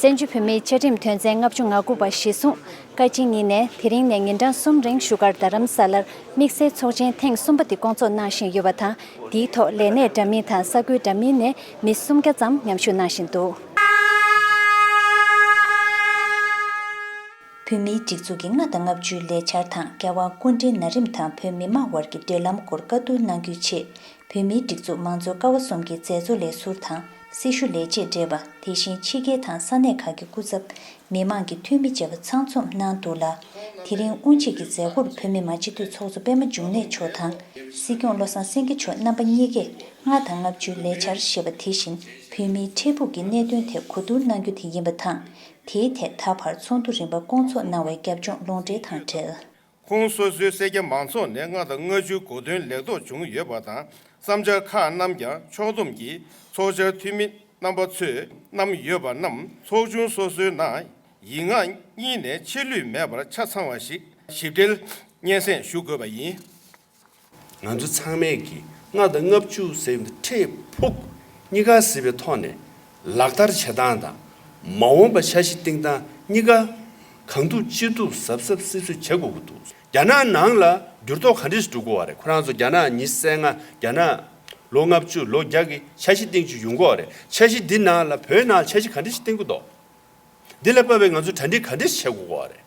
བཙན་བྱོལ་བོད་མིའི་བཅའ་ཁྲིམས་དོན་ཚན་ལྔ་བཅུ་ང་དགུ་པ་གཞི་བཟུང་བཀའ་སྤྱི་གཉིས་ནས་དེ་རིང་ནས་ཉིན་གྲངས་གསུམ་རིང་བཞུགས་སྒར་རྡ་རམ་ས་ལར་དམིགས་བསལ་ཚོགས་ཆེན་ཐེངས་གསུམ་པ་དེ་སྐོང་ཚོགས་གནང་བཞིན་ཡོད་པ་དང་དེའི་ཐོག་ལས་གནས་འདྲ་མིན་དང་ས་ཁུལ་འདྲ་མིན་ནས་མི་སུམ་བརྒྱ་ཙམ་མཉམ་ཞུགས་གནང་བཞིན་འདུག། བོད་མིའི་སྒྲིག་འཛུགས་ཀྱི་ལྔ་དང་ལྔ་བཅུའི་ལས་འཆར་དང་འགལ་བ་སྐུ་འབྲེལ་ན་རིམ་དང་བོད་མི་མང་བར་གྱི་འབྲེལ་ལམ་སྐོར་བཀའ་བསྡུར་གནང་རྒྱུའི་ཆེད་བོད་མིའི་སྒྲིག་འཛུགས་མང་གཙོ་ཀ་བ་གསུམ་གྱི་མཛད་གཙོ་ལས་ཟུར་དང་སྲི་ཞུ་ལས་བྱེད་བགྲེས་པ་དེ་བཞིན་ཕྱི་རྒྱལ་དང་ས་གནས་ཁག་གི་སྐུ་ཚབ། མི་མང་གི་འཐུས་མི་བཅས་པ་ཚང་འཛོམས་གནང་འདུག་ལ། དེ་རིང་དབུ་འབྱེད་ཀྱི་མཛད་སྒོར་བོད་མི་མང་སྤྱི་འཐུས་ཚོགས་གཙོ་པད་མ་འབྱུང་གནས་མཆོག་དང། སྲིད་སྐྱོང་བློ་བཟང་སེང་གེ་མཆོག་རྣམ་པ་གཉིས་ཀས་ལྔ་དང་ལྔ་བཅུའི་ལས་འཆར་ཞེས་པ་དེ་བཞིན་བོད་མིའི་འཕྲལ་ཕུགས་ཀྱི་གནད་དོན་ཐད་གོ་བསྡུར་གནང་རྒྱུ་དེ་ཡིན་པ་དང། དེའི་ཐད་ད་བར་ཚོགས་འདུ་རིམ་པ་སྐོང་ཚོགས་གནང་བའི་རྒྱབ་ལྗོངས་ལུང་འདྲེན་དང་འབྲེལ། ཁོང་སོ་སོའི་སེར་སྐྱ་མང་ཚོགས་ནས་ལྔ་དང་ལྔ་བཅུའི་གོ་དོན་ལེགས་རྟོགས་བྱུང་ཡོད་པ་དང་བསམ་འཆར་ཁག་རྣམས་ཀྱང་ཕྱོགས་བསྡོམས་ཀྱིས་ཚོགས་བཅར་འཐུས་མི་རྣམ་པ་ཚོས་བསྣམས་ཡོད་པ་རྣམས་ཚོགས་ཆུང་སོ་སོའི་ནང་ཡིག་ངག་གཉིས་ནས་ཆད་ལུས་མེད་པར་ཆ་ཚང་བ་ཞིག་ཞིབ་ཕྲལ་སྙན་སེང་ཞུ་དགོས་པ་ཡིན། ང་ཚོ་ཚང་མས་ཀྱིས་ལྔ་དང་ལྔ་བཅུ་ཟེར་བའི་འཕྲལ་ཕུགས་གཉིས་ཀ་གཟིགས་པའི་ཐོག་ནས་ལག་བསྟར་བྱེད་སྟངས་དང་མ་འོངས་པ་འཆར་གཞི་བཏིང་སྟངས་གཉིས་ཀ་གང་ཐུབ་ཅི་ཐུབ་གཟབ་གཟབ་གསིབ་གསིབ་བྱེད་དགོས་ཀྱི་འདུག་རྒྱ་ནག་ནང་ལ་འགྱུར་ལྡོག་ག་འདྲས་སུ་འགྲོ་དགོས་བ་རེད་ཁོ་རང་ཚོ་རྒྱ་ནག་ཉི་ཟེར་ལྔ་རྒྱ་ནག་ལོ་ལྔ་བཅུ་ལོ་བརྒྱ་གི་འཆར་གཞི་བཏིང་རྒྱུ་ཡོང་གི་བ་རེད་འཆར་གཞི་འདི་ནང་ལ་བོད་ནང་ལ་འཆར་གཞི་ག་འདྲས་ཞིག་བཏིང་དགོས་འདུག་འདི་ལ་དཔེ་བའི་ང་ཚོ་གྲ་འགྲིག་ག་འདྲས་ཞིག་བྱེད་དགོས་གི་བ་རེད།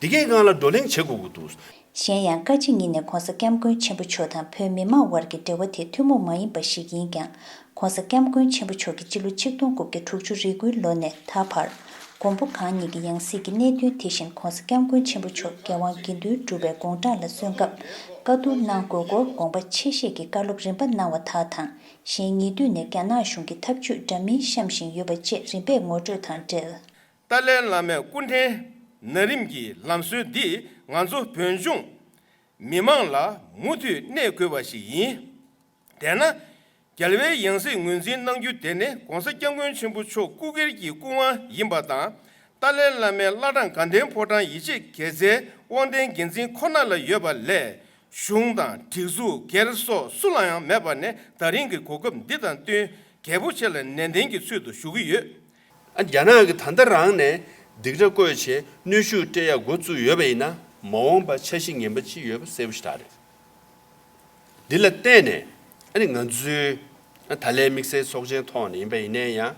འདི་གའི་སྒང་ལ་བགྲོ་གླེང་བྱེད་དགོས་ཀྱི་འདུག། གཞན་ཡང་བཀའ་སྤྱི་གཉིས་ནས་གོང་ས་སྐྱབས་མགོན་ཆེན་པོ་མཆོག་དང་བོད་མི་མང་དབར་གྱི་འབྲེལ་བ་དེ་ཐུན་མོང་མ་ཡིན་པ་ཞིག་ཡིན་ཀྱང། གོང་ས་སྐྱབས་མགོན་ཆེན་པོ་མཆོག་གིས་སྤྱི་ལོ་ཆིག་སྟོང་དགུ་བརྒྱ་དྲུག་ཅུ་རེ་དགུའི་ལོ་ནས་ད་བར། མགོན་པོ་གང་ཉིད་ཀྱི་ཡང་སྲིད་ཀྱི་གནད་དོན་དེ་བཞིན་གོང་ས་སྐྱབས་མགོན་ཆེན་པོ་མཆོག་རྒྱལ་དབང་དགེ་འདུན་གྲུབ་པའི་དགོངས་དྲངས་ལ་སོན་སྐབས་བཀའ་བསྡུར་གནང་དགོས་སྐོར་དགོངས་པ་ཆེ་བཞེས་ཀྱི་བཀའ་སློབ་རིམ་པ་གནང་བ་དག་དང་གཞན་ཉེ་དུས་ནས་རྒྱ་ནག་གཞུང་གི་ཐབས་ཇུས་འདྲ་མིན་བཤམས་བཞིན་ཡོད་པ་བཅས་རིམ་པས་ངོ་སྤྲོད་དང་འབྲེལ། ཏཱ་ལའི་བླ་མའི་སྐུ་འཕྲེང་ན་རིམ་གྱི་ལམ་སྲོལ་འདིས་ང་ཚོ་བོད་ལྗོངས་མི་དམངས་ལ་མུ་མཐུད་གནས་དགོས་པ་ཞིག་ཡིན། དེས་ན། རྒྱལ་བའི་ཡང་སྲིད་ངོས་འཛིན་གནང་རྒྱུ་དེ་ནི ྋགོང་ས ྋསྐྱབས་མགོན་ཆེན་པོ་མཆོག་སྐུ་སྒེར་གྱི་སྐུ་དབང་ཡིན་པ་དང་ཏཱ་ལའི་བླ་མའི་བླ་བྲང་དགའ་ལྡན་ཕོ་བྲང་ཡིད་ཆེས་གལ་ཆེ་དབང་ལྡན་འགན་འཛིན་ཁོ་ན་ལ་ཡོད་པ་ལས་གཞུང་དང་སྒྲིག་འཛུགས་སྒེར་སོགས་སུ་ལ་ཡང་མེད་པ་ནི་ད་རིང་གི་གོ་སྐབས་འདི་དང་བསྟུན་གལ་པོ་ཆེ་ལ་ནན་ཏན་གྱི་ཚུལ་དུ་ཞུ་གི་ཡོད། རྒྱ་ནག་གིས་ད་ལྟ་རང་ནས་སྡིགས་ར་བསྐོས་ཆེད་གནོད་ཤུགས་སྤྲད་ཡག་འགོ་བཙུགས་ཡོད་པ་ཡིན་ན་མ་འོངས་པ་འཆར་གཞི་ངན་པ་ཅི་ཡོད་པ་གསལ་པོ་ཞིག་ད་རེད། འདི་ལ་བརྟེན་ནས་ང་ཚོའི་ད་ལའི་དམིགས་བསལ་ཚོགས་ཆེན་ཐོག་ནས་ཡིན་པ་ཡིན་ནའི་ཡང་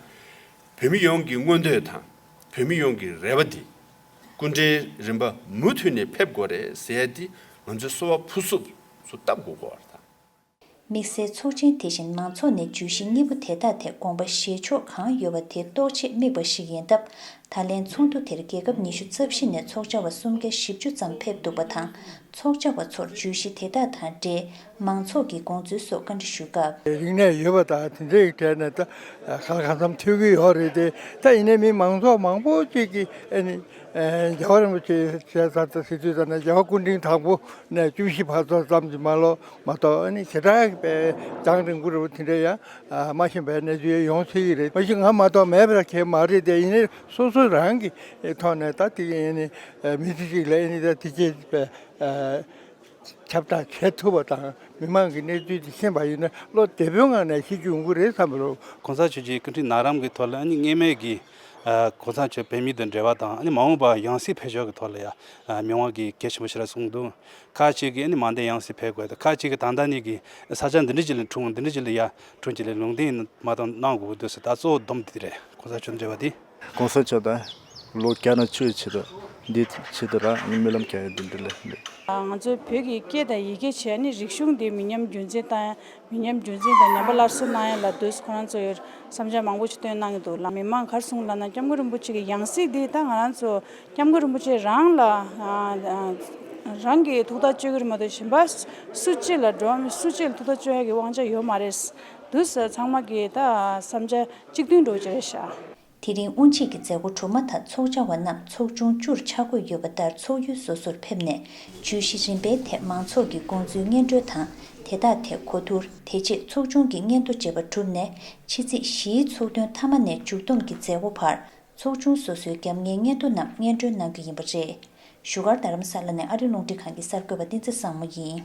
བོད་མི་ཡོངས་ཀྱི་མངོན་འདོད་དང་བོད་མི་ཡོངས་ཀྱི་རེ་བ་འདི་སྐུ་འདྲེན་རིམ་པ་མུ་མཐུད་ནས་ཕེབས་དགོས་རེད་ཟེར་ཡ་འདི་ང་ཚོའི་སོ་བ་ཕུ་སུབ་སུ་བཏབ་དགོས་སྐོར་དང། དམིགས་བསལ་ཚོགས་ཆེན་དེ་བཞིན་མང་ཚོགས་ནས་བརྗོད་གཞི་གཉིས་པོ་དེ་དག་ཐད་དགོངས་པ་བཞེས་ཕྱོགས་གང་ཡོད་པ་དེ་རྟོགས་ཆེད་དམིགས་པ་ཞིག་ཡིན་སྟབས་ད་ལན་ཚོགས་འདུ་དེར་རྒྱལ་ཁབ་ཉི་ཤུ་རྩ་བཞི་ནས་ཚོགས་བཅར་བ་གསུམ་བརྒྱ་བཞི་བཅུ་ཙམ་ཕེབས་འདུག་པ་དང་ཚོགས་བཅར་བ་ཚོར་བརྗོད་གཞི་དེ་དག་དང་འབྲེལ་མང་ཚོགས་ཀྱི་དགོངས་ཚུལ་སོགས་བཀའ་འདྲི་ཞུས་སྐབས། རིག་གནས་ཡོད་པ་དག་དེ་འདྲའི་གྲས་ནས་ད་ག་གང་འཚམ་ཐོས་ཀྱི་ཡོད་རེད་དེ་ད་ཡིན་ནའི་མི་མང་ཚོགས་མང་པོ་ཅིག་གིས་ཨ་ནི་རྒྱལ་བ་རིན་པོ་ཆེའི་ཞལ་གསར་དང་སི་ཏུ་ཙམ་ནས་རྒྱལ་བ་སྐུ་འཕྲེང་དང་པོ་ནས་བཅུ་བཞི་བར་ཚོགས་ཙམ་གྱི་མ་ལོག་མ་གཏོགས་ནི་བྱེ་བྲག་གི་པའི་རྫང་རིང་པོ་རེད་པོ་དེ་འདྲ་ཡང་སྨྲ་བཞིན་པའི་གནས་ཚུལ་ཡོང་སྲིད་ཀྱི་རེད་མ་གཞི་ང་མ་གཏོགས་མེད་པ་ཁྱེད་མ་རེད་དེ་ཡིན་ན་སོ་སོ་རང་གི་ཐོག་ནས་ད་དེ་ཡིན་ནི་མི་སྡེ་གཅིག་ལ་ཡིན་ནི་དེ་སྐྱེ་བའི་ཁྱབ་བསྒྲགས་བྱེད་ཐུབ་པ་དང་མི་མང་གི་གནས་ཚུལ་དེ་ཤེས་པ་ཡིན་ན་བློ་བདེ་པོའི་ངང་ནས་ཤེས་རྒྱུ་ཡོང་གི་རེད་བསམ་པ་རེད། གོང་ས་མཆོད་ཀྱི་སྐུ་ཕྲེང་ནང་རམ་གྱི་ཐོག་ལ་ནི་ངེས་མེད་ཀྱི་གོང་ས་མཆོད་བོད་མི་དང་འབྲེལ་བ་དང་ནི་མ་འོངས་པ་ཡང་སྲིད་འཕེལ་ཕྱོགས་ཀྱི་ཐོག་ལ་ཡང་མི་དབང་གི་གེགས་ཆེན་པོ་ཞིག་ལ་སོང་འདུག་ཁ་ཅིག་གིས་ནི་མ་འདས་ཡང་སྲིད་འཕེལ་དགོས་ཏེ་ཁ་ཅིག་གིས་ད་ལྟ་ནས་ཀྱིས་ས་ཆ་འདི་འདྲི་ཅི་ལས་འཁྲུངས་འདི་འདྲི་ཅི་ལས་ཡར་འཁྲུངས་ཅི་ལས་ལུང་བསྟན་ནི་མ་གཏོགས་གནང་དགོས་ཀྱི་འདུག་ཟེར་ད་གཙོ་བོ་སྡོམ་འདི་རེད་གོང་ས་མཆོག་འདྲི་བ་འདི། གོང་ས་མཆོག་དང་ལོ་བརྒྱ་ནང་ཆོས་བྱེད་དུ་འདི་བྱེད་དུ་རང་རྨི་ལམ་གྱ་ཡོད་འདི་འདི་ལས་འདི། ང་ཚོའི་བོད་ཀྱི་སྐད་དང་ཡི་གེ་བྱས་ནི་རིག་གཞུང་འདི་མི་ཉམས་རྒྱུན་འཛིན་དང་མི་ཉམས་རྒྱུན་འཛིན་དང་ཉམས་པ་སླར་གསོ་གནང་ཡས་ལ་དུས་སུ་ཁོ་རང་ཚོ་ཡོད་བསམ་འཆར་མང་པོ་ཞིག་བཏོན་གནང་གི་འདུག་ལ་མི་མང་གར་སོང་ལ་ན་སྐྱབས་མགོན་རིན་པོ་ཆེ་གི་ཡང་སྲིད་འདི་ད་ང་རང་ཚོ་སྐྱབས་མགོན་རིན་པོ་ཆེ་རང་ལ་རང་གི་ཐུགས་ཐག་གཅོད་གི་རེད་མ་གཏོགས་གཞན་པ་སུ་གཅིག་ལ་འགྲོ་བ་མི་སུ་གཅིག་ལ་ཐུགས་ཐག་གཅོད་ཡས་ཀྱི་དབང་ཆ་ཡོད་མ་རེད། དུས་སུ་ཚང་མ་གི་ད་བསམ་འཆར་གཅིག་མཐུན་འགྲོ་གི་རེད་ཤག། དེ་རིང་དབུ་འབྱེད་ཀྱི་མཛད་སྒོ་གྲུབ་མ་ཐག་ཚོགས་བཅར་བ་རྣམས་ཚོགས་ཆུང་བཅུར་ཆ་བགོས་ཡོད་པ་ལྟར་ཚོགས་ཡུལ་སོ་སོར་ཕེབས་ནས་ཇུས་གཞི་རིམ་པའི་ཐད་མང་ཚོགས་ཀྱི་དགོངས་ཚུལ་སྙན་སྒྲོན་དང་དེ་དག་ཐད་གོ་བསྡུར་དེ་རྗེས་ཚོགས་ཆུང་གི་སྙན་ཐོ་འབྱེད་པ་གྲུབ་ནས་ཕྱི་ཚེས་བཞིའི་ཚོགས་ཐུན་མཐའ་མ་ནས་མཇུག་བསྡོམས་ཀྱི་མཛད་སྒོ་བར་ཚོགས་ཆུང་སོ་སོའི་རྒྱབ་གཉེར་སྙན་ཐོ་རྣམས་སྙན་སྒྲོན་གནང་རྒྱུ་ཡིན་པ་རེད། བཞུགས་སྒར་རྡ་རམ་ས་ལ་ནས་ཨ་རིའི་རླུང་འཕྲིན་ཁང་གི་གསར་འགོད་པ་བསྟན་འཛིན་བཟང་མོ་ཡིན།